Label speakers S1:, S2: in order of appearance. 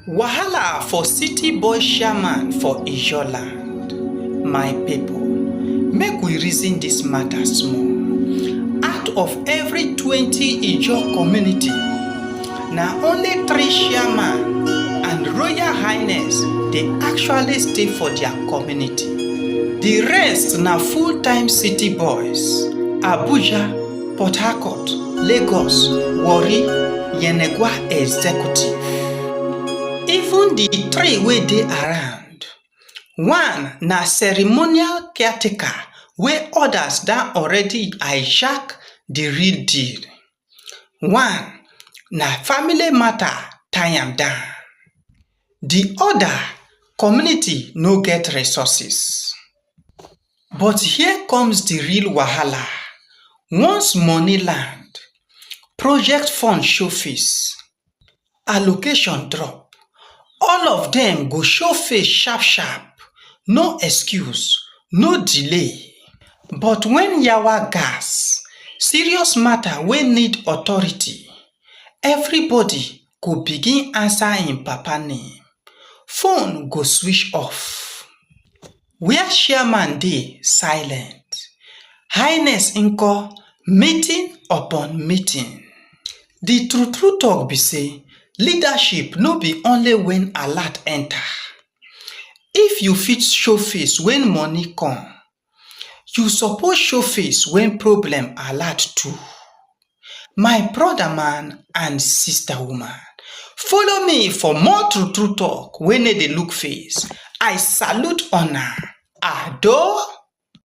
S1: Wahala for city boy chairman for Ijaw land, my pipu make we reason dis matter small, out of every twenty Ijaw community na only three chairman and royal highness dey actually stay for their community, di rest na full time city boys, Abuja. Port Harcourt, Lagos, Warri, Yenegua Executive. Even the three wey dey around, one na ceremonial caretaker wey others don already hijack the real deal, one na family matter tie am down, the other community no get resources. But here comes the real wahala, once money land, project fund show face, allocation drop, all of dem go show face sharp sharp, no excuse, no delay. But when yawa gas, serious matter wey need authority, everybody go begin answer im papa name, phone go switch off. where chairman dey silent highness nko meeting upon meeting the true true talk be say leadership no be only when alert enter if you fit show face when money come you suppose show face when problem alert too My broda man and sista woman, follow me for more true true talk wey no dey look face, I salute una, Ado!